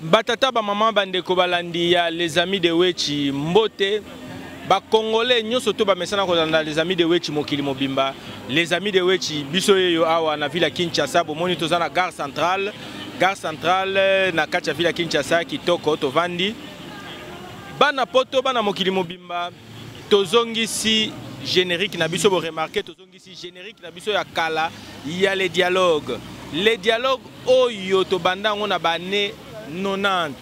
Batata, bamama, bandeko, balandi ya Les Amis de Wetshi, mbote. Bakongole nyonso to bamesana kolanda Les Amis de Wetshi mokili mobimba. Les Amis de Wetshi, biso yeyo awa na Villa Kinshasa, bomoni toza na gare centrale. Gare centrale na kati ya Villa Kinshasa, kitoko, tovandi. Bana poto, bana mokili mobimba, tozongisi générique na biso, bo remarquer, tozongisi Si generique na biso ya kala ya le dialogue le dialogue oyo tobanda yango na bane 90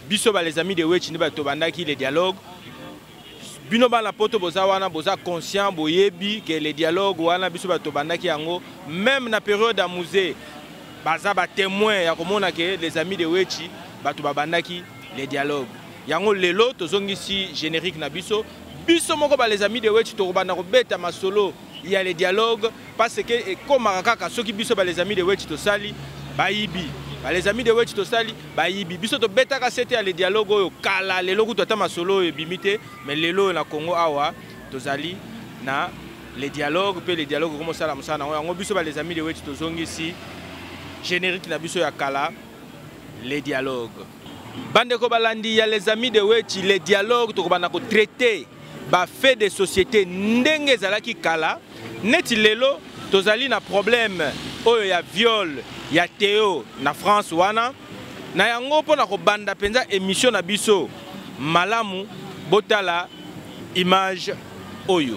biso ba les amis de wetch nde bato tobandaki le dialogue bino bana poto boza wana boza conscient boyebi ke le dialogue wana biso bato tobandaki yango meme na periode ya musée baza batémoin ya komona ke les amis de wetchi bato babandaki le dialogue yango lelo tozongisi générique na biso biso moko ba les amis de wetch tokobanda kobeta masolo ya le dialogue parce que ekomaka kaka soki biso ba les amis de wetch tosali bayibi ba les amis de wetch tosali bayibi biso tobetaka sete ya le dialogue oyo kala lelo kutu ata masolo oyo ebimi te mais lelo oyo na congo awa tozali na le dialogue mpe le dialogue ekomi osala mosala nango yango biso ba les amis de wetch tozongisi générique na biso ya kala le dialogue Bandeko balandi ya les amis de Wetchi, le dialogue tokobanda ko traiter ba faits de société ndenge ezalaki kala neti lelo tozali na problème oyo ya viol ya Théo na France wana na yango mpo na kobanda mpenza émission na biso malamu botala image oyo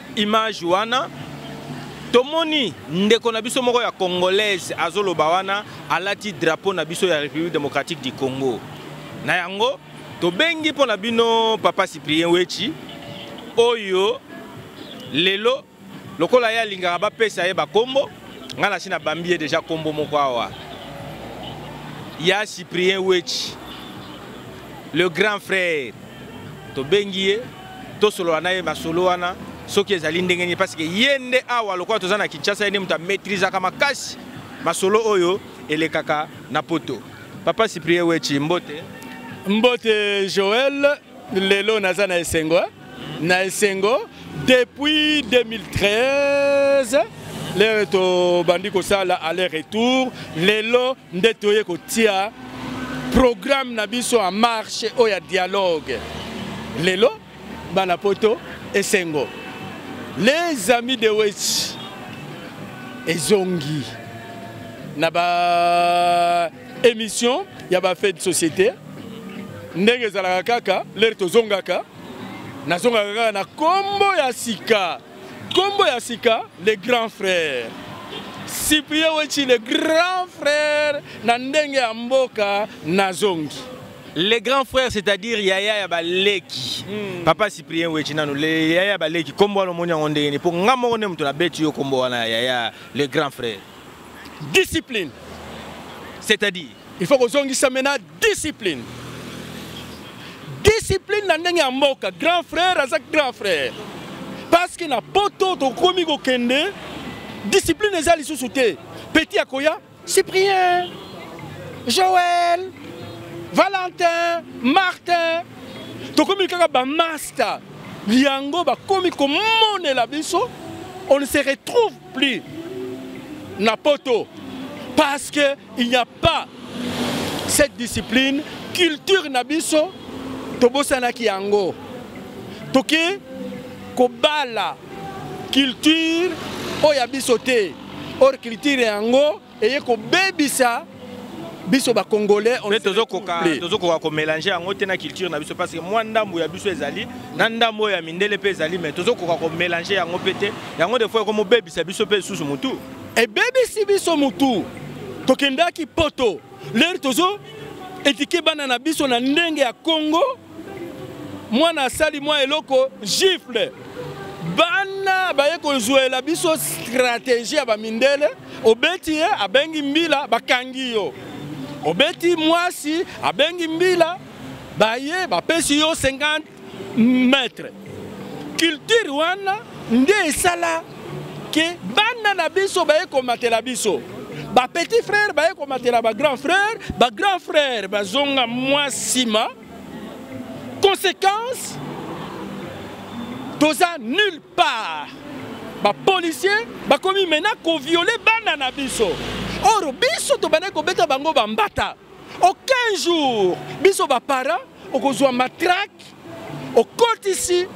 image wana tomoni ndeko na biso moko ya congolaise azoloba wana alati drapeau na biso ya république démocratique du congo na yango tobengi mpo na bino papa cyprien wechi oyo lelo lokola ye alingaka bapesa ye bakombo ngai nasi nabambi ye deja kombo moko awa ya cyprien wechi le grand frère tobengi ye tosolola na ye masolo wana soki ezali ndenge nini parce que ye nde awa lokola toza na kinshasa ye nde moto amaîtrisaka makasi masolo oyo elekaka na poto papa cyprien wechi mbote mbote joel lelo naza na esengo na esengo Depuis 2013 lelo tobandi kosala aller retour lelo nde toye kotia programme na biso en marche oyo ya dialogue lelo bana poto esengo les amis de wech ezongi na ba émission ya ba fait de société ndenge ezalaka kaka lere tozongaka nazongaka kaka na kombo ya sika kombo ya sika le grand frère cyprien wechi le grand frère na ndenge ya mboka nazongi le grand frère c'est-à-dire yaya ya baleki mm. papa cyprien wechi nano le yaya ya baleki kombo wana omoni yango ndenge nini mpo nga moko nde moto nabeti yo kombo wana yaya le grand frère discipline c'est-à-dire Il faut kozongisa mena discipline. Discipline na ndenge ya mboka, grand frère aza grand frère. Parce que na poto tokomi kokende discipline eza lisusu te. Petit akoya Cyprien, Joël, Valentin, Martin. Tokomi kaka ba master. Yango bakomi komonela biso on se retrouve Plus na poto parce que il n'y a pas cette discipline culture na biso tobosanaki yango toke kobala culture oyo ya biso te or culture yango eye kobebisa biso ba congolais on tozo koka tozo koka ko mélanger yango te na culture na biso parce que moi ndambu ya biso ezali na ndambu ya mindele pe ezali mais tozo koka ko mélanger yango pe te yango des fois comme bebisa biso pe susu mutu et bebisi biso mutu tokendaki poto leur tozo etike bana na biso na ndenge ya Congo mwana asali mwa eloko gifle bana baye kozwela biso strategie ya bamindele obeti ye abengi mbila bakangi yo obeti mwasi abengi mbila baye bapesi yo 50 mètre culture wana nde esala ke bana na biso baye komatela biso ba petit frère baye komatela ba grand frère ba grand frère bazonga mwa nsima conséquence toza nulle part bapolicier bakomi mena koviole bana na biso or biso tobandaki kobeta bango bambata aucun jour biso baparent okozwa matrake okotisi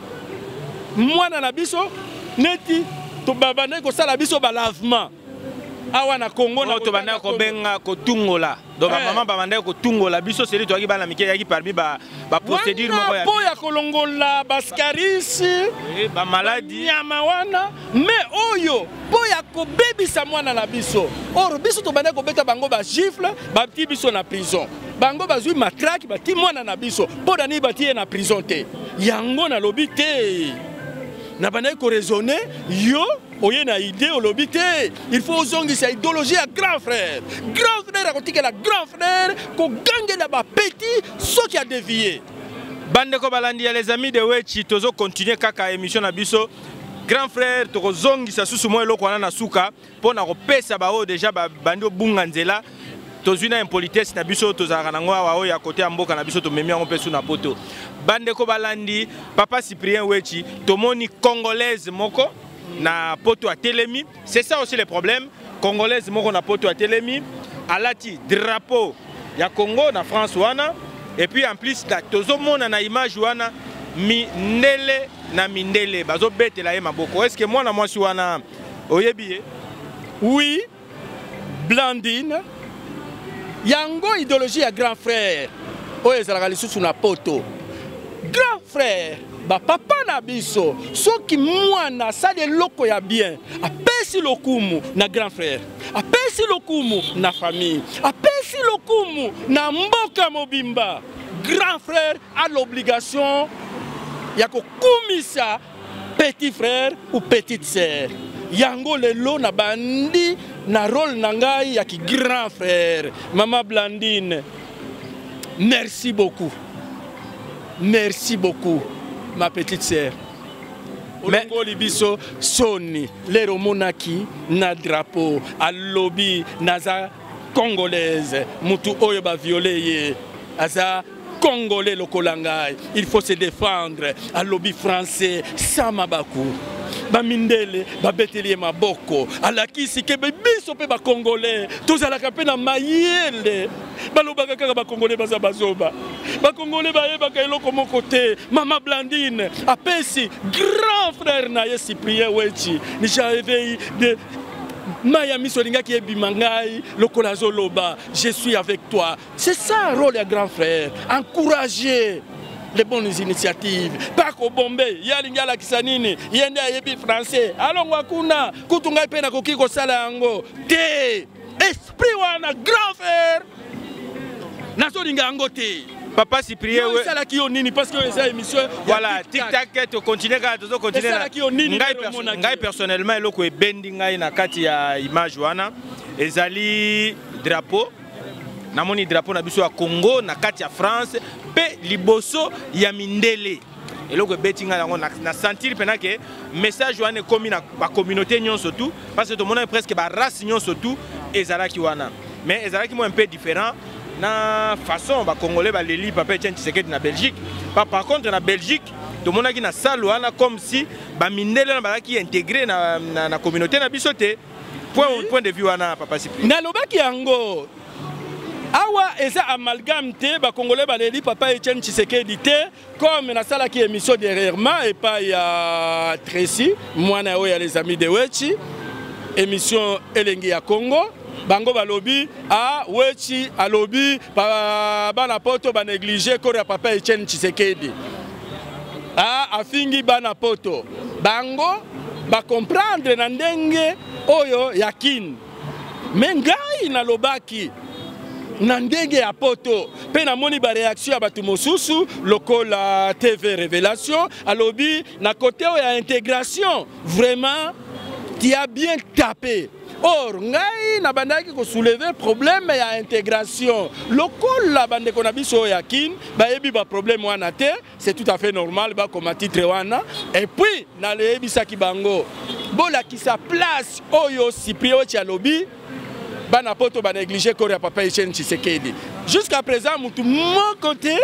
mwana na biso neti tobabandaki kosala biso balavement awa na congo na tobandaki kobenga kotungola donc eh. bamama babandaki kotungola biso seli toyaki bana mike yaki parmi baprocédure moko ya mpo ya kolongola bascaris eh, bamaladi nyama wana me oyo mpo ya kobebisa mwana na biso or biso tobandaki kobeta bango bagifle batii biso na prison bango bazwi matraki bati mwana na biso mpo na nini bati ye na prison te yango nalobi te nabandaki koraisonne yo oye na idée olobi te il faut ozongisa idéologie ya grand frère grand frère akotikela grand frère kogangela bapeti soki adevie bandeko balandi ya les amis de wechi tozokontinue kaka émission na biso grand frère tokozongisa susu mwa eloko wana na suka mpo na kopesa baoyo deja babandi obunga nzela tozwi na impolitesse na biso tozalaka nango awa oyo ya kote ya mboka na biso tomemi yango mpe su na poto bandeko balandi papa cyprien wechi tomoni congolaise moko na poto atelemi c'est ça aussi le problème congolaise moko na poto atelemi alati drapeau ya congo na france wana et puis en plus tozomona na image wana mindele na mindele bazobetela ye maboko eske mwana mwasi wana Oyebi ye? Oui, Blandine. Yango idéologie ya grand frère oyo ezalaka lisusu na poto. Grand frère, ba papa na biso, soki mwana asali eloko ya bien, apesi lokumu na grand frère, apesi lokumu na famille, apesi lokumu na mboka mobimba. Grand frère a l'obligation ya kokumisa petit frère ou petite sœur yango lelo na bandi na role na ngai ya ki grand frère mama blandine merci beaucoup merci beaucoup ma petite sœur olongoli biso soni lero omonaki na drapeau alobi naza congolaise mutu oyo baviole ye aza congolais lokola ngai il faut se défendre alobi français sans mabaku bamindele babeteli ye maboko alakisi ke biso mpe bakongole tozalaka mpe na mayele balobaka kaka bakongole baza bazoba bakongole bayebaka eloko moko te mama blandine apesi grand frère na ye cyprien wechi nijaeveyi de mai ya miso elingaki ebima ngai lokola azoloba je suis avec toi C'est ça rôle ya grand frère, encourager les bonnes initiatives pa kobombe ye alingi alakisa nini ye nde ayebi français alongwa kuna kutu ngai mpe nakoki kosala yango te esprit wana grand frère nazolinga yango te papa cyprien esalaki yo nini parce que eza émission voilà tic tac to continuer kaka tozo continuer esalaki yo nini ngai perso ngai personnellement eloko ebendi ngai na kati ya image wana ezali drapeau namoni drapeau na biso ya congo na kati ya france mpe liboso ya mindele eloko ebeti ngai yango na sentir mpena ke message wana ekomi na bacommunauté nyonso tout parce que tomonaki presque barace nyonso tout ezalaki wana mais ezalaki moi un peu différent na façon bacongolais baleli papa etienne tshisekedi na belgique pa par contre na belgique tomonaki na salle wana comme si bamindele wana bazalaki integre na, na, na communauté na biso te point, point de vue wana papa Cyprien nalobaki yango awa eza amalgame te bakongole baleli papa etienne tshisekedi te comme nasalaki émission derrièrement epai ya tracy mwana ya oyo ya les amis de wechi émission elengi ya congo bango balobi a ah, wechi alobi bana poto banéglige kore ya papa etienne tshisekedi ah, afingi bana poto bango bacomprendre na ndenge oyo ya kin me ngai nalobaki na ndenge ya poto mpe namoni bareaktio ya bato mosusu lokola tv révélation alobi na kote oyo ya intégration vraiment tia bien tape Or, ngai na bandaki ko soulever problème ya intégration. Lokola bandeko na biso ya Kin, ba yebi ba problème wana te, c'est tout à fait normal ba koma titre wana. Et puis, na le yebi saki bango. Bola ki sa place oyo Cyprien Chalobi bana poto ba négliger corps ya papa Etienne Tshisekedi. Jusqu'à présent, mutu mon côté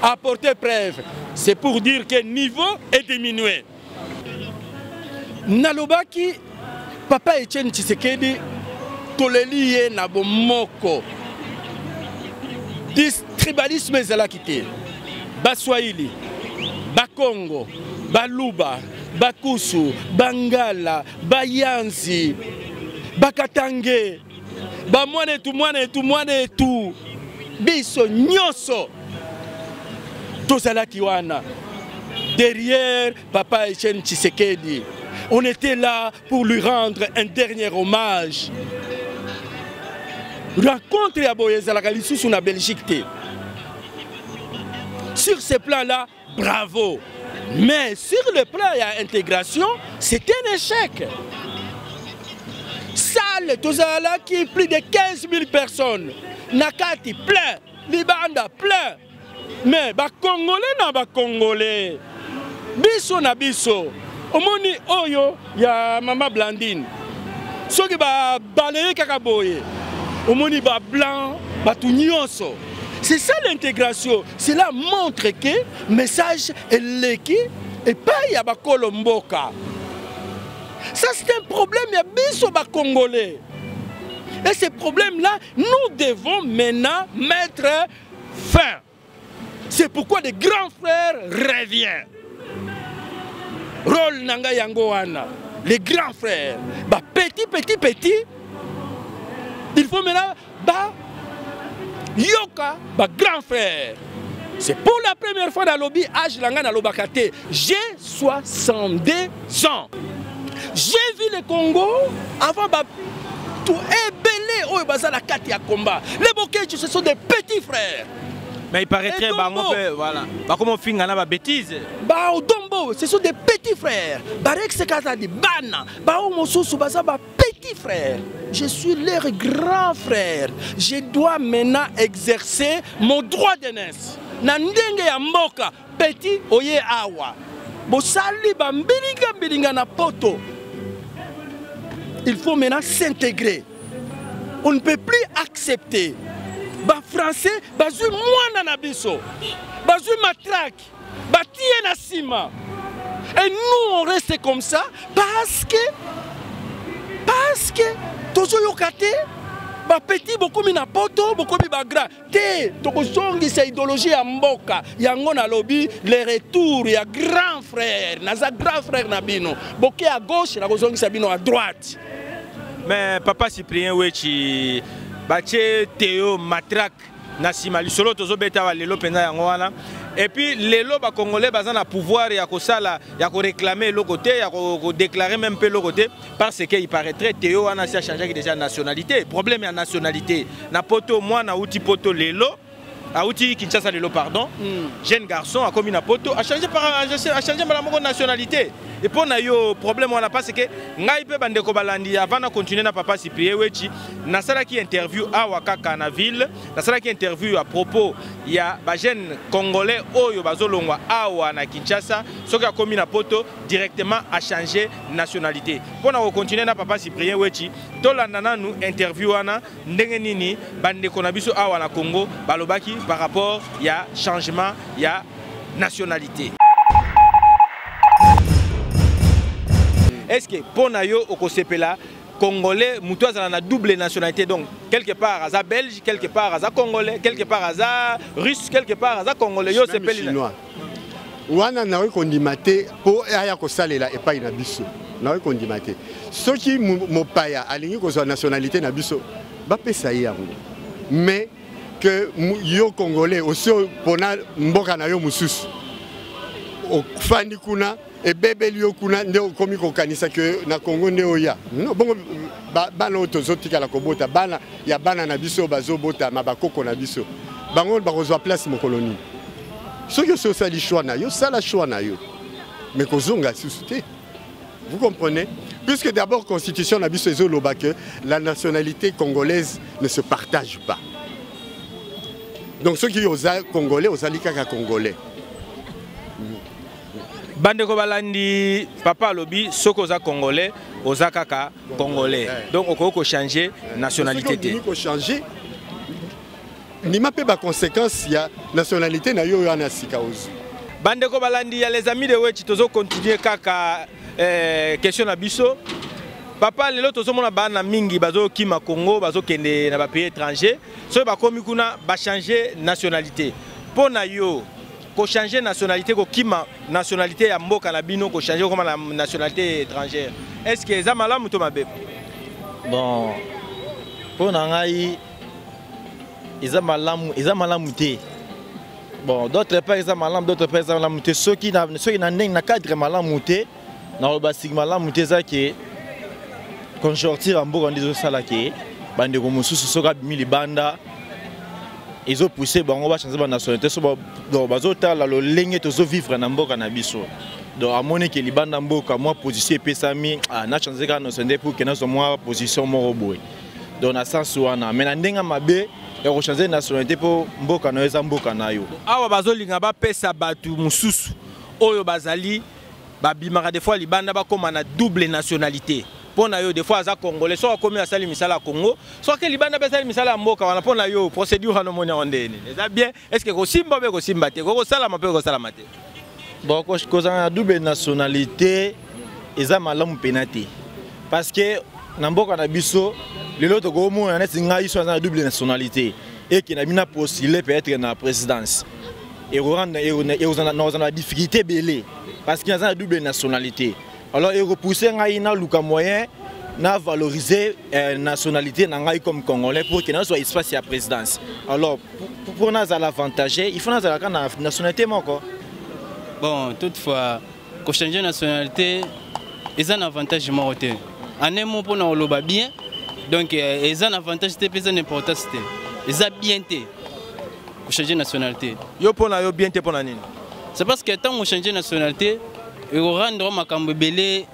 apporter preuve. C'est pour dire que niveau est diminué. nalobaki papa etienne tshisekedi toleli ye na bomoko tribalisme ezalaki te baswahili bakongo baluba bakusu bangala bayanzi bakatange ba mwana etu mwana etu mwana etu biso nyonso tozalaki wana derrière papa Etienne Tshisekedi on était là pour lui rendre un dernier hommage rencontre ya boye ezalaka lisusu na Belgique te sur ce plan là Bravo. Mais sur le plan il y a intégration, c'est un échec. Salle, tous là qui plus de 15 000 personnes. Nakati plein, Libanda plein. Mais ba Congolais na ba Congolais. Biso na biso. Omoni oyo ya mama blandine soki babaleye kaka boye omoni ba blanc bato nyonso c'est ça l'intégration cela montre que message eleki epai ya bakolo mboka ça c'est un problème ya biso bacongolais et ce problème là nous devons maintenant mettre fin c'est pourquoi le grand frère revient role na ngai yango wana le grand frère ba petit petit petit il faut maintenant ba yoka ba grand frère c'est pour la première fois nalobi age na ngai nalobaka te j'ai 62 Jean, j'ai vu le Congo avant ba tout ebele oyo baza la carte ya combat. Les Bokecho ce sont des petits frères. Mais il paraîtrait bango pe voilà. Ba comment finga na ba bêtises. Ba Odombo, ce sont des petits frères. Barek Sekaza di bana. Ba Omosusu baza ba petits frères. Je suis leur grand frère. Je dois maintenant exercer mon droit d'aînesse. Na ndenge ya mboka Petit oye awa bosali ba mbilinga mbilinga na poto il faut maintenant s'intégrer on ne peut plus accepter bafrançais bazwi mwana na biso bazwi matrake batiye na nsima et nous on reste comme ça parce que parce que tozoyoka te bapeti bokomi na poto bokomi bagrand te tokozongisa idéologie ya mboka yango nalobi le retour ya grand frère naza grand frère na bino boke ya gauche nakozongisa bino ya droite mais papa cyprien wechi batie teo matrak na nsima lisolo tozobeta wa lelo mpenza yango wana epuis lelo bacongolais baza na pouvoir ya kosala ya koreklame eloko te ya kodeklare meme mpe eloko te ko parce que il paraîtrait Théo wana si a changé déjà nationalité problème ya nationalité na poto mwana uti poto lelo auti Kinshasa lelo pardon mm. jeune garçon akomi na poto a changé par a changé mbala moko nationalité et mpo na yo problème wana parce que ngai mpe bandeko balandi avant na continuer na papa cyprien wechi nasalaki interview awa kaka na ville nasalaki interview à propos ya bajeune congolais oyo bazolongwa awa na kinshasa soki akomi na poto directement à changer nationalité Pour na continuer na papa cyprien wechi tolanda nanu interview wana ndenge nini bandeko na biso awa na congo balobaki par rapport ya changement ya nationalité est ce que mpo na yo okosepela congolais moto azala na double nationalité donc quelque part aza belge quelque part aza congolais quelque part aza russe quelque part aza congolais yo osepeli wana nakoki kondima te mpo aya kosalela epai na biso nakoki kondima te soki mopaya alingi kozwa nationalité na biso bapesa ye yango mais que yo congolais osi opona mboka na yo mosusu ofandi kuna ebebeli yo kuna nde okomi kokanisa ke na congo nde oya no bongo bana oyo tozotikala kobota bana ya bana na biso oyo bazobotama bakoko na biso bango bakozwa place mokolo nini soki osi osali choix na yo sala choix na yo me kozonga lisusu te vous comprenez puisque d'abord constitution na biso ezoloba ke la nationalité congolaise ne se partage pas donc soki oza congolais ozali kaka congolais bandeko balandi papa alobi soki oza congolais oza kaka congolais eh. donc okoki kochange eh. nationalité te kochange ndima mpe baconséquence ya nationalité na yo oyo wana sika ozwi bandeko balandi ya les amis de wechi tozokontinue kaka eh, question na biso papa lelo tozomona bana mingi bazokima congo bazokende na bapays étranger soki bakomi kuna bachange nationalité mpo na yo ko changer nationalité ko kima nationalité ya mboka na bino ko changer koma na nationalité étrangère est ce que eza malamu to mabe bon mpo na ngai eza malamu eza malamu te bon d'autre part eza malamu d'autre part eza malamu te soki na, soki na ndenge na cadre malamu te naloba siki malamu te eza ke conjoncture ya mboka nde ezosala ke bandeko mosusu soki abimi libanda ezopousse bango bachange banationalité so donc bazotala lolenge tozovivre na mboka na biso donc amoni ke libanda mboka mwa position epesami ah, nachange kaka nationalité pour ke nazwa mwa position moko boye donc na sens wana mais na ndenge mabe ya kochange nationalité mpo mboka na yo eza mboka na yo awa bazolinga bapesa bato mosusu oyo bazali ba bimaka des fois libanda ba koma na double nationalité mpo na yo des fois aza congolais soki akomi asali misala ya congo soki libanda mpe asali misala ya mboka wana mpo na yo procédure wana omoni yango ndenge nini eza bien est ce que kosimba mpe kosimba te kokosalama mpe kosalama te bon kozala na double nationalité eza malamu mpena te parce que na mboka na biso lelo tokomona neti ngai so aza na double nationalité eke na bino na postule peut-être na présidence ekozala na difficulté ebele parce que naza na double nationalité alors ekopousse ngai naluka moyen na valoriser euh, nationalité na ngai comme congolais pour que nazwa espace ya présidence alors mpo nazala avantage il faut nazalaka na nationalité moko bon toutefois Ko changer nationalité eza na avantage moko te. En un mot pona oloba bien donc euh, eza na avantage te peza n'importance te. Eza bien te. Ko changer nationalité. Yo pona yo bien te pona nini? C'est parce que tant on changer nationalité et rendre makambo belé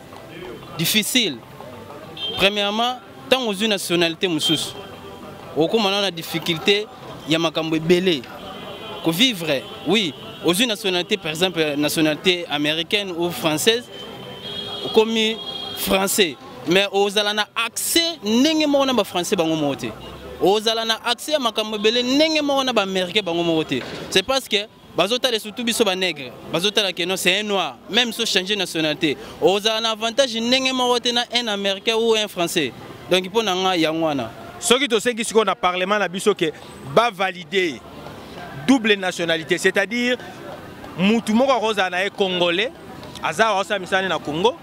difficile. Premièrement ntango ozwi nationalité mosusu okoma na na difficulté ya makambo ebele kovivre oui ozwi nationalité par exemple nationalité américaine ou française okomi français mais ozala na accès ndenge moko na bafrançais bango moko te ozala na accès ya makambo ebele ndenge moko na baaméricain bango moko te c'est parce que bazotala surtout biso banegre bazotala keno c'est un noir même so change nationalité ozala na avantage ndenge moko te na un américain ou un français donc mpo na ngai yango wana soki tosengi sikoyo na parlement na biso ke bavalide double nationalité c'est-à-dire mutu moko akozala na ye congolais aza aosala misala ne na congo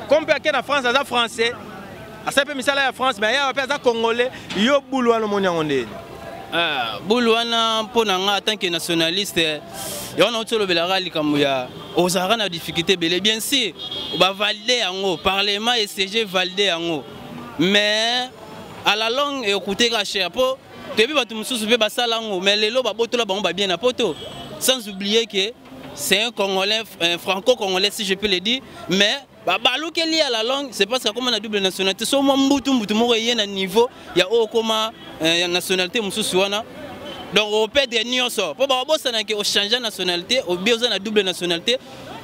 comme mpe ake na france aza français asali mpe misala ya france mais ayawa mpe aza congolais yo bulu wana omoni yango ndeni ah, bulu wana mpo na ngai tant que nationaliste eh, ya wana outi olobelaka likambo ya ozalaka na difficulté ebele bien sûr bavalide yango parlement esege valide yango mais à la longue ekuteka cher mpo toyebi bato mosusu mpe basala yango mais lelo babotola bango babien na poto sans oublier que c'est un congolais un franco-congolais si je peux le dire mais babalukeli ya la langue c'est parce que akoma na double nationalité so mwa mbutu mbutu moko eye na niveau ya oyo okoma eh, ya nationalité mosusu wana donc opedre nyonso mpo bakobosana ke ochange nationalité obi oza na double nationalité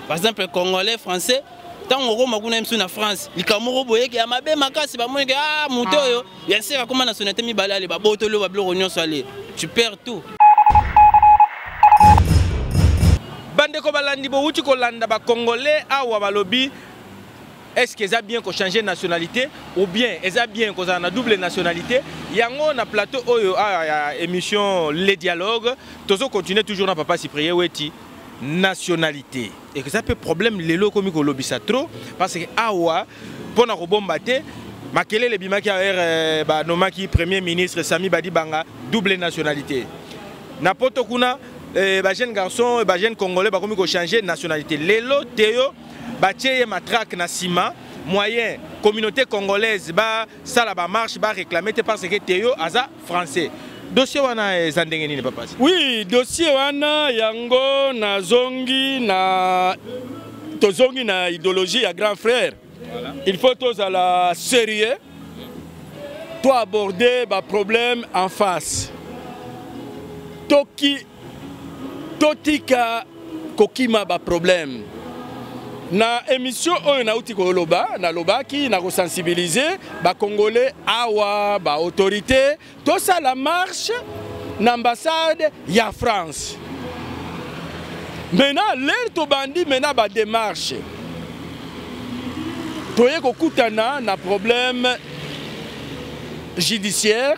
par exemple congolais français ntango okoma kuna ye mosusu na france likambo moko boyeke ya mabe makasi bamonike a ah, moto oyo ya sere akoma na sonate mibale ale babotoli babiloko nyonso ale tu perds tout bandeko balandi bowuti kolanda bacongolais awa balobi est ce que eza bien kochange nationalité ou bien eza bien kozala na double nationalité yango na plateau oyo awa ya émission le dialogue tozo continue toujours na papa cyprien weti nationalité eza mpe problème lelo ekomi kolobisa trop parce que awa mpo na kobomba te makelele ebimaki awa ere euh, banomaki premier ministre sami badibanga double nationalité na poto kuna euh, bajeune garçon euh, bajeune congolais bakomi kochange nationalité lelo te yo batie ye matrake na nsima moyen communauté congolaise basala bamarche baréclame te parce que te yo aza français dossier wana eza ndenge nini papa oui dossier wana yango nazongi na tozongi na idéologie ya grand frère voilà. il faut tozala sérieux to aborder baproblème en face toki totika kokima baproblème na émission oyo nauti koloba nalobaki na kosensibilize bacongolais awa baautorité tosala marche na ambassade ya france maintenant lere tobandi maintenant bademarche toye kokutana na problème judiciaire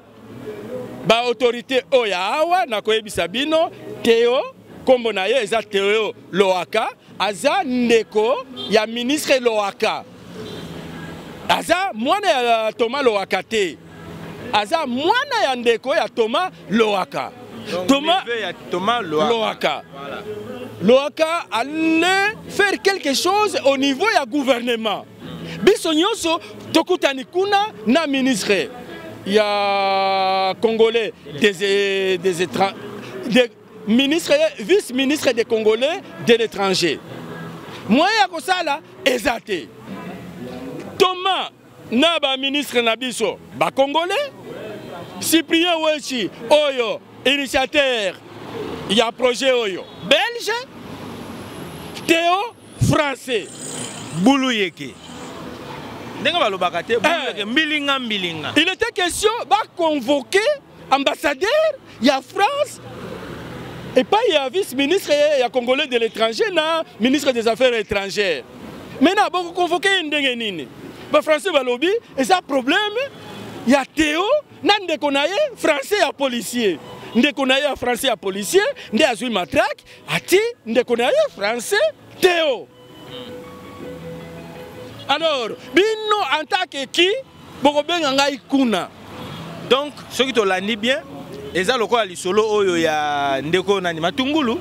ba autorité oyo ya awa nakoyebisa bino teo nkombo na ye eza teo loaka aza ndeko ya ministre loaka aza mwana ya toma loaka te aza mwana ya ndeko ya toma loaka toma loaka loaka allait faire quelque chose au niveau ya gouvernement biso nyonso tokutani kuna na ministre ya congolais des, des étrangers de, ministre vice ministre des congolais de l'étranger moyen ya kosala eza te toma na baministre na biso bacongolais cyprien wechi oyo initiateur ya projet oyo belge teo français bulu yeke ndenge balobaka te bulu eh. yeke mbilinga mbilinga il était question baconvoquer ambassadeur ya france epai ya vice ministre ya congolais de l'étranger na ministre des affaires étrangères mai na bokoconvoke ye ndenge nini bafrançais balobi eza problème ya teo na ndeko na ye français ya policier ndeko na ye ya français ya policier nde azwi matrake ati ndeko na ye français teo alors bino en tant que qui bokobenga ngai kuna donc soki tolandi bien eza lokola lisolo oyo ya ndeko nani matungulu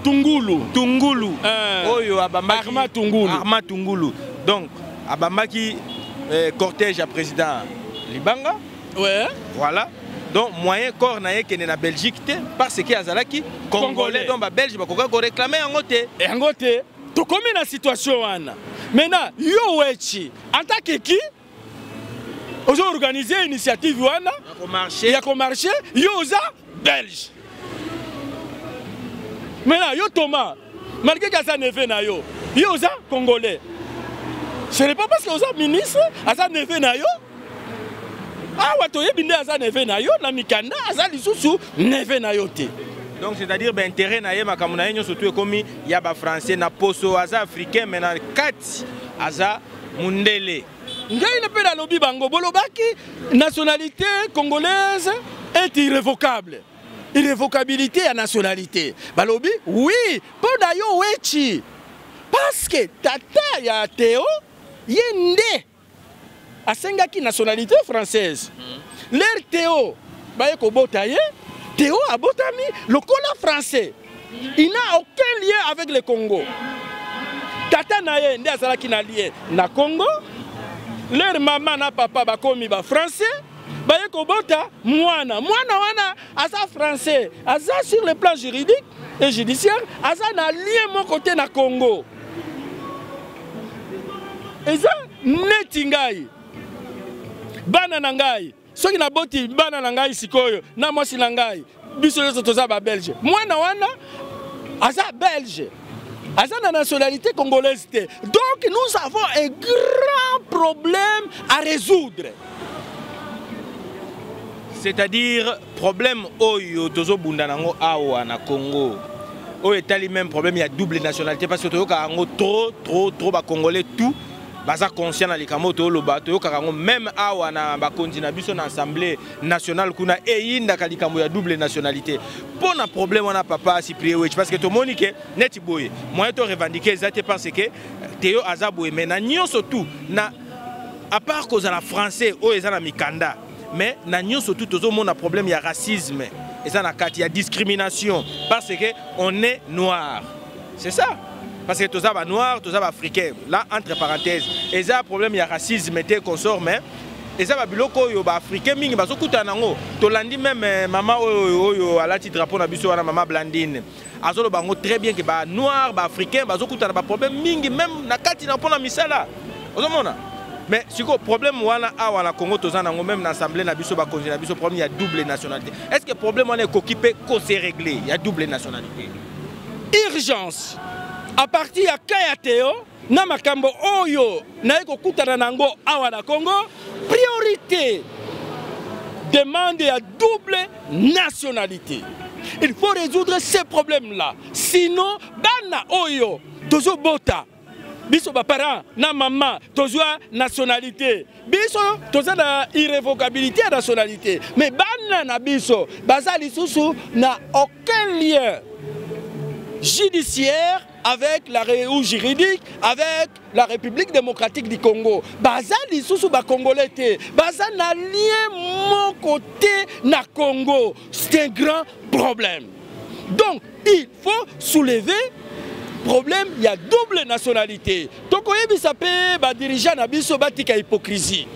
tungulu tungulu uh, oyo abambaki arma tungulu arma tungulu donc abambaki eh, cortège ya président libanga Ouais. Voilà. donc moyen corps na ye ekende na belgique te parce que azalaki congolais donc babelge bakoka koreklame yango te yango te tokomi na situation wana maintenant yo wechi antake ki ozo organise initiative wana ya komarche yo oza belge maintenant yo thomas malgré que aza neveu na yo yo oza congolais ce n'est pas parce que oza ministre aza neveu na yo awa toyebi nde aza neveu na yo na mikanda aza lisusu neveu na yo te donc c'est-à-dire baintérêt na ye makambo na ye nyonso tu ekomi ya bafrançais na poso aza africain mais na kati aza mundele ngai na mpe nalobi bango bolobaki nationalité congolaise est irrévocable irrevocabilité ya nationalité balobi oui mpo na yo wechi parceke tata ya teo ye nde asengaki nationalité française hmm. ler teo baye kobota ye teo abotami lokola français il n'a aucun lien avec le congo tata na ye nde azalaki na lien na congo ler mama na papa bakomi bafrançais baye kobota mwana mwana wana aza français aza sur le plan juridique et judiciaire aza na lien moko te na congo eza neti ngai bana na ngai soki naboti bana na ngai sikoyo na mwasi na ngai biso nyonso toza babelge mwana wana aza belge aza na nationalité congolaise te donc nous avons un grand problème à résoudre c'est-à-dire problème oyo tozobunda nango awa na congo oyo etali même problème ya double nationalité parce que toyokaka yango trop trop trop bacongolais tout baza conscient na likambo toloba toyokaka yango meme awa na bakonzi na biso na assemblée nationale kuna eyindaka likambo ya double nationalité mpo na problème wana papa cyprien wech parce que tomoni ke neti boye moyen to revendique eza te parce que teyo aza boye mais na nyonso tout na à part kozala français oyo eza na mikanda mais na nyonso tout tozomona problème ya racisme eza na kati ya discrimination parce que on est noir C'est ça. Parce que tous les noirs, tous les africains, là, entre parenthèses, et ça, problème, il y a racisme, et consort, mais eza babiloko oyo baafricain mingi bazokuta nango tolandi meme eh, mama oyo oyo alati drapeau na biso wana mama blandine azoloba yango très bien ke banoir baafricain bazokuta na baproblème mingi meme na kati na mpo na misala ozomona mais sikoyo problème wana awa na congo toza nango meme na assemblée na biso bakonzi na biso problème ya double nationalité est ce que problème wana ekoki mpe kose régler ya double nationalité urgence à partir ya cas ya Théo na makambo oyo naye kokutana na yango awa na Congo priorité demande ya double nationalité il faut résoudre ces problèmes là sinon bana oyo tozobota biso baparent na mama tozwa nationalité biso toza na irrévocabilité ya nationalité mais bana na biso baza lisusu na aucun lien judiciaire avec la ou juridique avec la République démocratique du Congo baza lisusu ba congolais te baza na lien moko te na Congo c'est un grand problème donc il faut soulever problème ya double nationalité tokoyebisa mpe badirigant na biso batika hypocrisie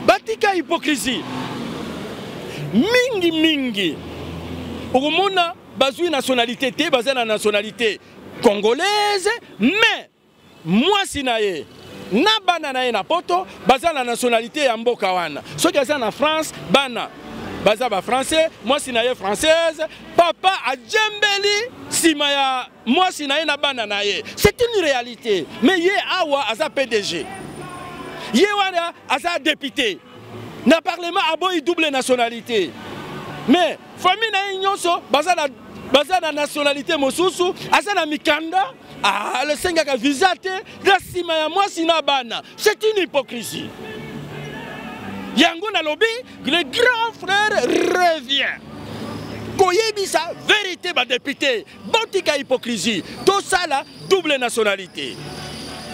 batika hypocrisie mingi mingi okomona bazwi nationalité te baza na nationalité congolaise mais Mwasi na ye na bana na ye na poto baza na nationalité ya mboka wana soki aza na france bana baza ba français mwasi na ye française papa ajembeli nsima ya mwasi na ye na bana na ye c'est une réalité mais ye awa aza pdg ye wana aza député na parlement aboyi double nationalité mais Famille na ye nyonso baza na baza na nationalité mosusu aza na mikanda asengaka ah, visa te na nsima ya mwasi na bana c'est une hypocrisie yango nalobi le grand frère revient koyebisa verité badepute botika hypocrisie tosala double nationalité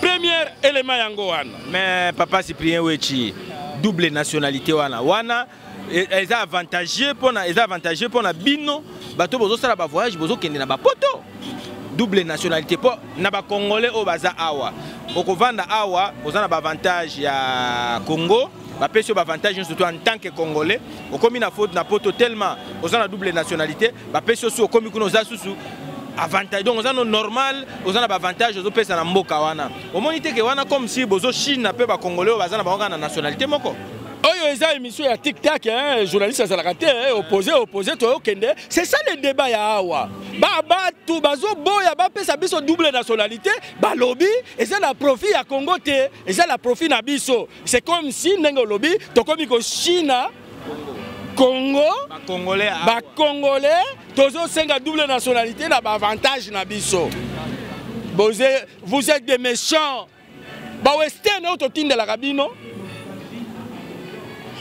premier élément yango wana mais papa cyprien wechi double nationalité wana wana E, eza avantageux pona eza avantageux pona bino bato bozosala ba voyage bozokende na bapoto double nationalité mpo na bacongolais oyo baza awa okovanda awa oza na baavantage ya congo bapesi yo baavantage nyonso to en tant que congolais okomi na faute na poto tellement oza na double nationalité bapesi yo su okomi kuna oza susu avantage donc oza no normal oza na baavantage ozopesa na mboka wana omoni te ke wana comme si bozo chine mpe bacongolais oyo baza na bango kaka na nationalité moko oyo eza émission ya tik tak hein, journaliste azalaka te hein, oppose oppose toyokende c'est ça le débat ya awa babatu bazoboya bapesa biso double nationalité balobi eza na profit ya congo te eza na profit na biso c'est comme si ndenge olobi tokomi kochina congo bacongolais tozosenga double nationalité na baavantage na biso vous êtes des méchants ba western oyo totindelaka bino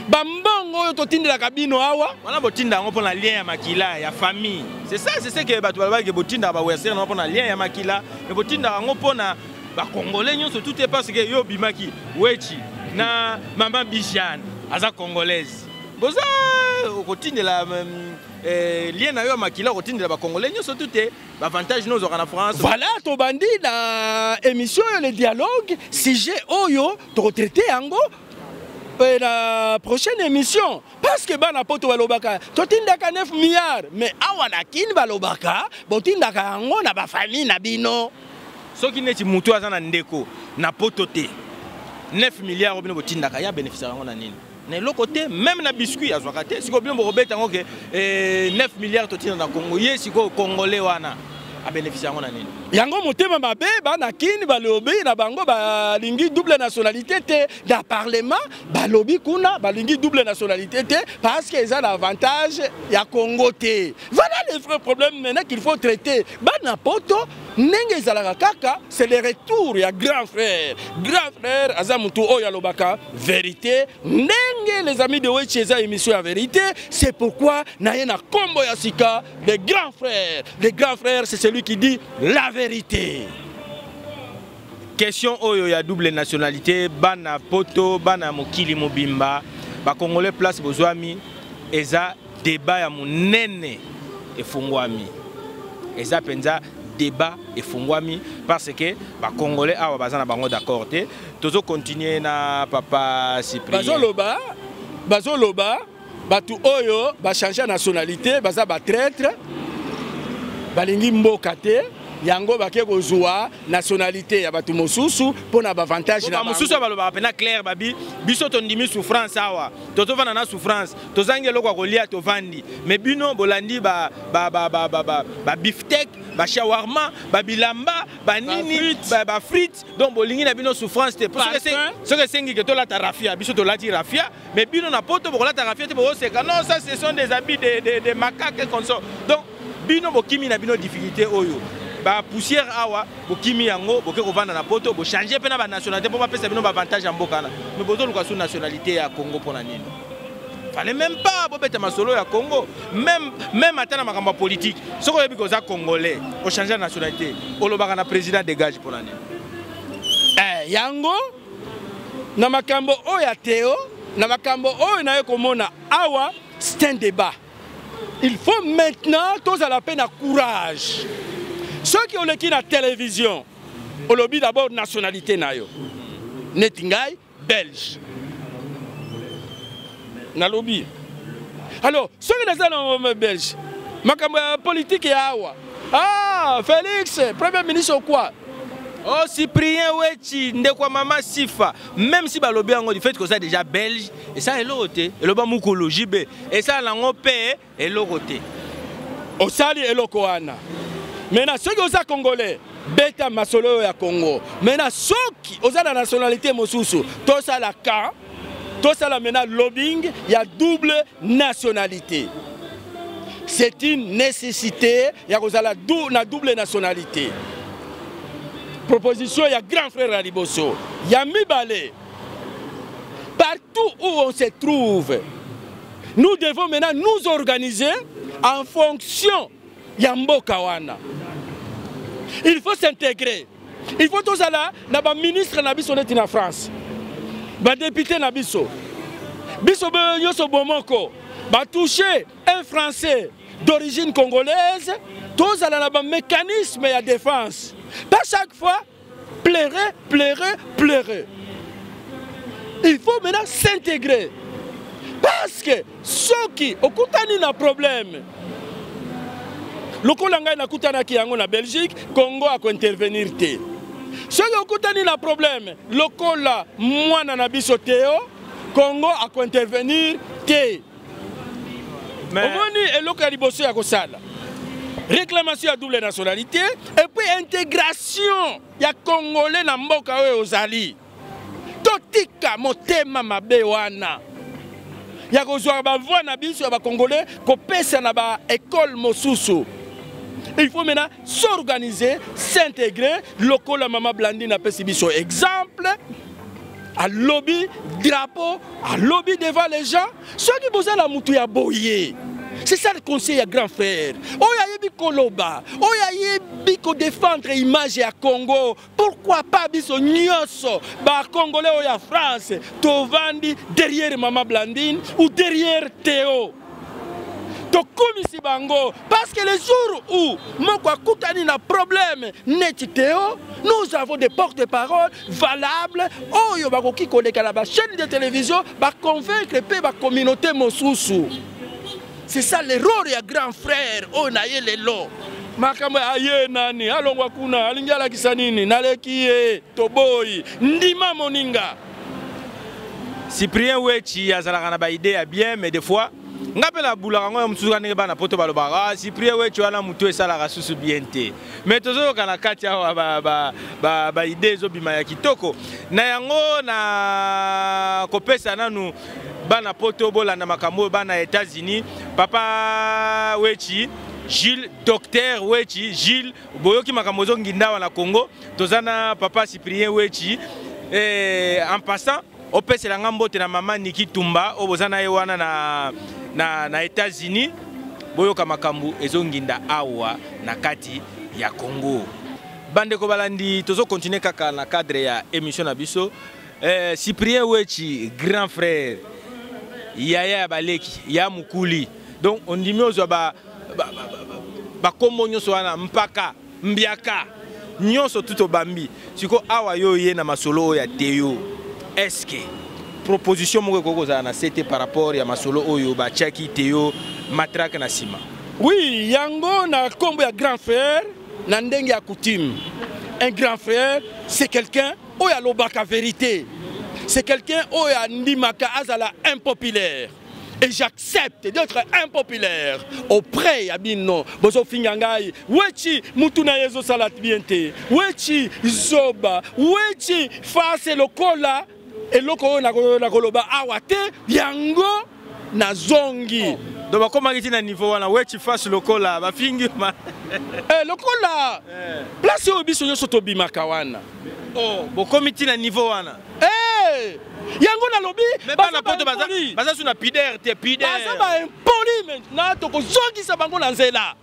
bambongo oyo totindelaka bino awa wana botinda yango mpo na lien ya makila ya famille c'est ça c'est ce que bato balobaki botindaka ba western yango mpo na lien ya makila me botindaka yango mpo na bakongole nyonso tout est parce que yo obimaki wechi na mama bijane aza congolaise boza okotindela euh, lien na yo ya makila okotindela bakongole nyonso tout est Avantage nous aura na France. Voilà, to bandi na émission le dialogue, sujet oyo to traité yango et la prochaine émission parce que bana poto balobaka totindaka 9 milliards mais awa na kin balobaka botindaka yango na bafamille na bino soki neti motu aza na ndeko na poto te 9 milliards oyo bino botindaka ya bénéficiare yango na nini na eloko te meme na biscuit azwaka te sikoyo bino bokobeta yango ke 9 eh, milliards totina na congo ye sikoyo congolais wana abénéficie yango na nini yango motema mabe bana kini balobi na bango balingi double nationalité te na parlement balobi kuna balingi double nationalité te parce que eza na avantage ya congo te voilà le vrai problème maintenant qu'il faut traiter bana poto ndenge ezalaka kaka c'est le retour ya grand frère grand frère aza mutu oyo alobaka verité ndenge les amis de wechi eza émission ya verité c'est pourquoi naye na kombo ya sika le grand frère le grand frère c'est celui qui dit la vérité question oyo ya double nationalité bana poto bana mokili mobimba bakongole place bozwami eza Debat ya munene efungwami. Eza penza débat efungwami parce que ba congolais awa baza na bango d'accord te. Tozo continuer na papa Cyprien. Bazo loba bazo loba batu oyo ba changer nationalité baza ba traître balingi mboka te yango bake kozwa nationalité ya bato mosusu mpo na bavantage na mosusu balobaka mpena claire babi biso tondimi souffrance awa tozovanda na souffrance tozangi eloko ya kolia tovandi me bino bolandi babiftec bashawarma babilamba banini bafrite donc bolingi na bino souffrance te soki esengi ke tolata rafia biso tolati rafia me bino na poto bokolata rafia te bokoseka non ça ce sont des habits de macaque conso donc Bino bokimi na bino difficulté oyo ba poussière awa bokimi yango boke kovanda na poto bochange mpe na banationalité mpo bapesa bino baavantage ya mboka wana me bozoluka su nationalité ya congo mpo na nini fale meme pas bobeta masolo ya congo meme ata na makambo ya politike soki oyebi koza congolais ochange ya nationalité olobaka na président dégage mpo na nini eh, yango na makambo oyo ya teo na makambo oyo naye komona awa c'est un débat il faut maintenant tozala mpe na courage soki oleki na télévision olobi d'abord nationalité na yo neti ngai belge nalobi alors soki naza na belge makambo ya politike ya awa ah félix premier ministre okwa Oh, Cyprien Wechi, ndeko mama Sifa, même si balobi yango du fait que ça déjà belge, esala eloko te eloba mukulu jb esala nango mpe eloko te osali eloko wana me na soki oza congolais beta masolo oyo ya congo me na soki oza na nationalité mosusu tosala ka tosala mena lobbying ya double nationalité c'est une nécessité ya kozala na double nationalité proposition ya grand frère ya liboso ya mibale Partout où on se trouve, nous devons maintenant nous organiser en fonction ya mboka wana. Il faut s'intégrer. Il faut tozala na ba ministre na biso neti na France. Ba député na biso. Biso be nyoso bomoko. Ba toucher un français d'origine congolaise, tozala na ba mécanisme ya défense. Pas chaque fois Pleurer, pleurer, pleurer. Il faut maintenant s'intégrer. Parce que ceux qui ont un problème, lokola ngai nakutanaki yango na belgique congo akointervenir te soki okutani na problème lokola mwana na biso teo congo akointervenir te omoni eloko ya liboso ya kosala réclamation ya double nationalité et puis intégration ya congolais na mboka oyo ozali totika motema mabe wana ya kozwa bavoi na biso ya bacongolais kopesa na baekole mosusu il faut maintenant s'organiser s'intégrer lokola mama blandine apesi biso exemple alobi drapeau alobi devant les gens soki boza na motu ya boye c'est ça le conseil ya grand frère oyo ayebi koloba oyo ayebi kodefendre image ya congo pourquoi pas biso nyonso bacongolais oyo ya france tovandi derrière mama blandine ou derrière teo tokumisi bango parce que le jour où moko akutani na problème neti teo nous avons des porte parole valable oyo bakoki koleka na bachaîne de télévision baconvaincre mpe bacommunauté mosusu c'est ça l'erreur ya grand frère oyo na ye lelo makambo aye nani alongwa kuna alingi alakisa nini naleki ye toboyi ndima moninga cyprien wechi azalaka na baide ya bien mais des fois nga mpe nabulaka yango ya mosusu ndenge bana poto balobaka ah, cyprien wechi wana motu esalaka susu bien te mais tozoyoka na kati awa baide ba, ba, ba ezobima ya kitoko na yango na kopesa nanu bana poto bolanda makambo oyo bana ya états-unis papa wechi Gilles, docteur Wechi, Gilles, boyoki makambo ozo ngindawa na Congo, toza na papa Cyprien Wechi. Eh, en passant, opesela nga mbote na mama Niki Tumba oyo boza na ye wana na, na, na États-Unis. Boyoka makambo ezo nginda awa na kati ya Congo. Bandeko balandi tozo continuer kaka na cadre ya émission na biso. Eh, Cyprien Wechi, grand frère, yaya ya baleki, ya mukuli. Donc ondimi ozwa ba ba ba ba ba kombo nyonso wana mpaka, mbiaka, nyonso tout obambi. Siko awa yo ye na masolo oyo ya Teo. Est-ce que proposition moko ekoki kozala na CT par rapport ya masolo oyo batiaki Teo matraque na sima? Oui, yango na kombo ya grand frère na ndenge ya coutume. Un grand frère, c'est quelqu'un Oyo alobaka verite, c'est quelqu'un oyo andimaka azala impopulaire. et j'accepte d'être impopulaire auprès ya bino bozofinga ngai wechi mutu na ye ezosala bien te wechi zoba wechi fase lokola eloko oyo nakoloba awa te yango na zongi oh. donc bakomaki ti na niveau wana wechi face lokola bafingi ma eh, lokola eh. place oyo biso nyonso tobimaka wana oh, bokomi ti na niveau wana eh, yango nalobi bana poto baza su na pider te pider baza baimpoli maintenant tokozongisa bango na nzela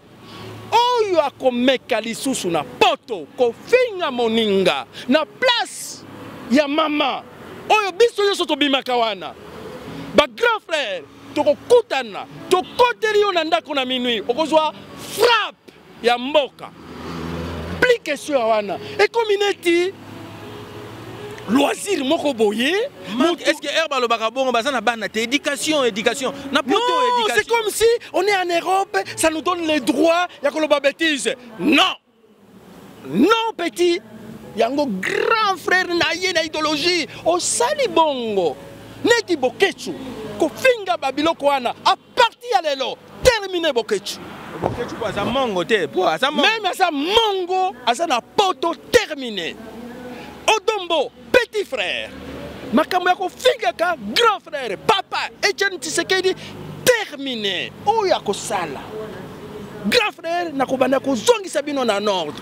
oyo akomeka lisusu na poto kofinga moninga na place ya mama oyo biso nyonso tobimaka wana bagrand frère tokokutana tokoteli yo na ndako na minui okozwa frappe ya mboka pli question ya wana ekomi neti loisir moko boye est-ce que heure balobaka bongo baza na bana te éducation éducation na poto éducation c'est comme si on est en Europe ça nous donne les droits ya koloba bêtise non non petit yango grand frère na ye na idéologie osali bongo neti boketsu kofinga babiloko wana Parti ya lelo termine Boketshu. Boketshu po aza mongo te, po aza mongo. Meme aza mongo, aza na poto termine. Odombo, petit frère. Makambo ya kofingaka grand frère, papa Etienne Tshisekedi termine. Oyo akosala. Grand frère nakobanda kozongisa bino na nord.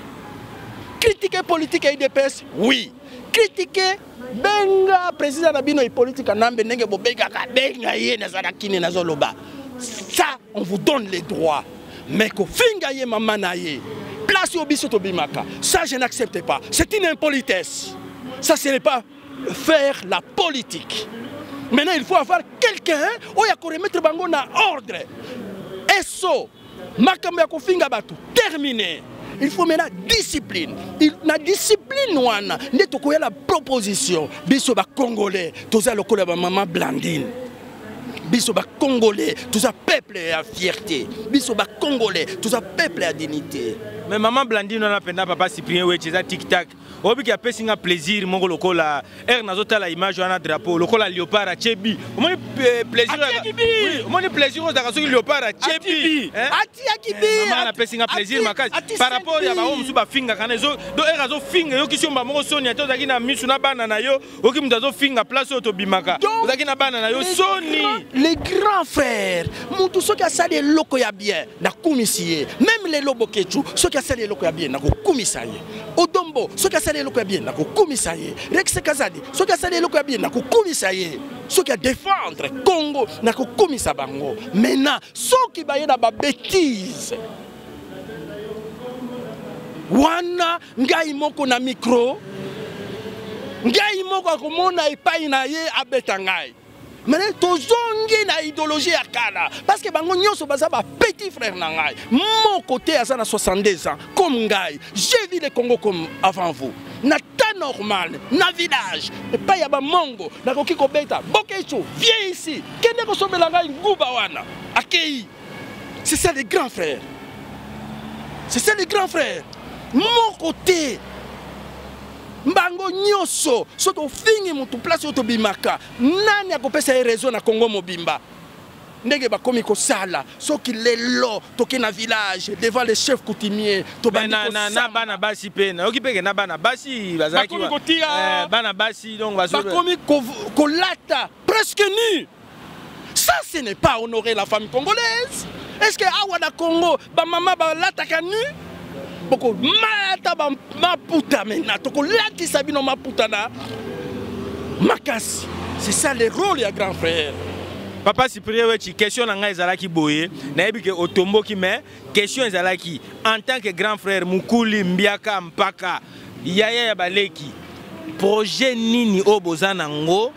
Critiquer politique ya IDPS, oui. Critiquer benga president na bino ipoliti kanambe ndenge bobengaka benga ye naza na kini nazoloba ça on vous donne les droits mais kofinga ye mama na ye place oyo biso tobimaka ça je n'accepte pas c'est une impolitesse ça ce n'est pas faire la politique maintenant il faut avoir quelqu'un oyo akoremettre bango na ordre eso makambo ya kofinga bato termine il faut maintenant discipline il, na discipline wana nde tokoya na proposition biso bacongolais toza lokola bamama blandine biso bacongolais toza peuple ya fierté biso bacongolais toza peuple ya dignité mais maman blandine wana mpenza papa cyprien weche eza tiktak oyebi ke apesi nga plaisir moko lokola heure nazotala image wana drapeau lokola léopard atye bi omoni eh, plaisiromoni plaisir ozalaka soki léopard atye bi mama napesi nga plaisir makasi par rapport ya bango mosusu bafingaka na ezo do heure azofinga eyokisi yo mba moko soni ate ozalaki na misu na bana na yo oki moto azofinga place oyo tobimaka ozalaki na bana na yo soni le grand frère motu soki asali eloko ya bien nakumisi ye meme lelo bokechu soki asali eloko ya bien nakokumisa ye odombo soki asali eloko ya bien nakokumisa ye rexe kazadi soki asali eloko ya bien nakokumisa ye soki adefendre congo nakokumisa bango maintenant soki baye na babetise wana ngai moko na mikro ngai moko akomona epai na ye abeta ngai mene tozongi na idéologie ya kala parce que bango nyonso baza ba petit frère na ngai moko te aza na 62 ans comme ngai j'ai vu le congo comme avant vous na temps normal na village epai ya bamongo nakoki kobeta bokeco vie ici kende kosombela ngai nguba wana akei c'est ça les grands frères c'est ça les grands frères moko te mbango nyonso so tofingi motu place oyo tobimaka nani akopesa ye réseau na congo mobimba ndenge bakomi kosala soki lelo toke na village devant le chef coutumier tobandina bana basi mpe nayoki mpeke na bana basi bazalaki kotia eh, bana basi donc bakomi kolata presque nu ça ce n'est pas honorer la femme congolaise est ce que awa na congo bamama balataka nu bokolata maputa mena tokolatisa bino maputa na makasi c'est ça le rôle ya grand frère papa cyprien wechi question na ngai ezalaki boye nayebi ke otomboki mais question ezalaki en tant que grand frère mukuli mbiaka mpaka yaya ya baleki projet nini oyo boza nango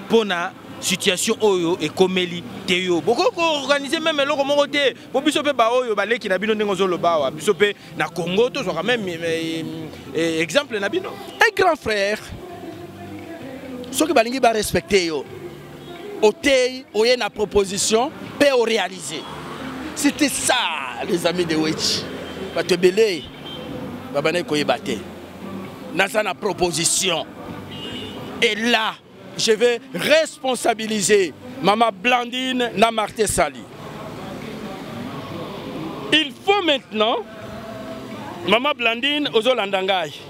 mpo na situation oyo ekomeli te yo bokoki koorganize meme eloko moko te mpo biso mpe baoyo baleki na bino ndenge ozoloba awa biso mpe na congo tozwaka meme eh, eh, eh, exemple na bino un grand frère soki balingi barespecte yo oteyi oye na proposition mpe orealise c'était ça les amis de wetchi bato ebele babandaki koyeba te naza na proposition et là je vais responsabiliser mama blandine na marte sali il faut maintenant mama blandine ozolanda ngai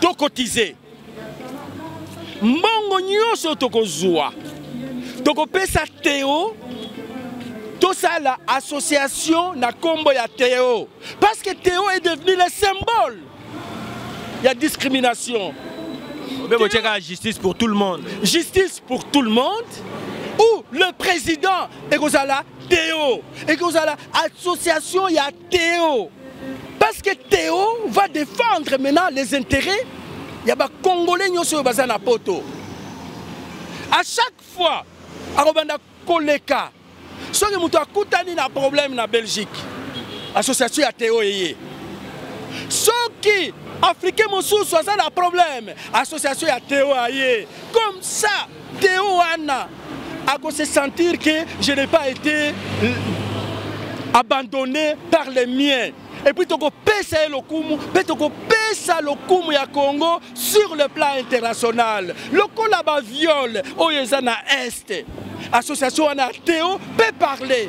to cotiser mbongo nyonso tokozwa tokopesa teo tosala association na nkombo ya teo parce que teo est devenu le symbole ya discrimination obe botyaka justice pour tout le monde justice pour tout le monde ou le président ekozala teo ekozala association ya Théo parce que Théo va défendre maintenant les intérêts ya ba congolais nyonso oyo baza na poto à chaque fois akobanda koleka soki moto akutani na problème na belgique association ya teo eye soki africain mosusu aza na problème association ya teo aye comme ça Théo wana ako se sentir que je n'ai pas été abandonné par les miens et puis tokopesa ye lokumu mpe tokopesa lokumu ya congo sur le plan international lokola baviole oyo eza na este association wana ya teo mpe parle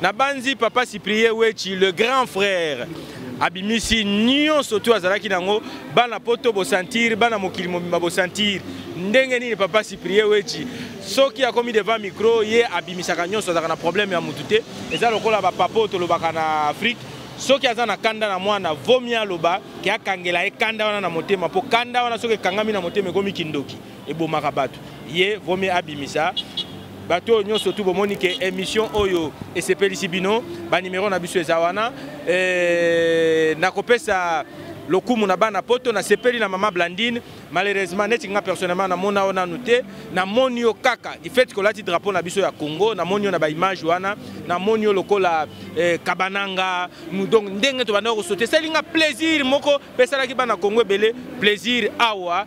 Nabanzi papa Cyprien Wetshi le grand frère abimisi nyonso tu azalaki nango bana poto bosantir bana mokili mobimba bosantir ndenge nini papa Cyprien Wetshi soki akomi devant micro ye abimisaka nyonso azalaka na problème ya mutu te eza lokola ba papa oyo tolobaka na Afrique soki aza na kanda na mwana vomi aloba ke akangela ye kanda wana na motema mpo kanda wana soki ekangami na motema ekomi kindoki ebomaka bato ye vaut mieux abimisa bato oyo nyonso tu bomoni ke émission oyo esepelisi bino banimero na biso eza wana eh, nakopesa lokumu na bana poto nasepeli na mama blandine malheureusement neti nga personnellement namona yo nanu te namoni yo kaka ifeti kolati drapeau na biso ya congo namoni yo na baimage wana namoni yo lokola eh, kabananga donc ndenge tobandaki kosote esali nga plaisir moko mpe esalaki bana congo ebele plaisir awa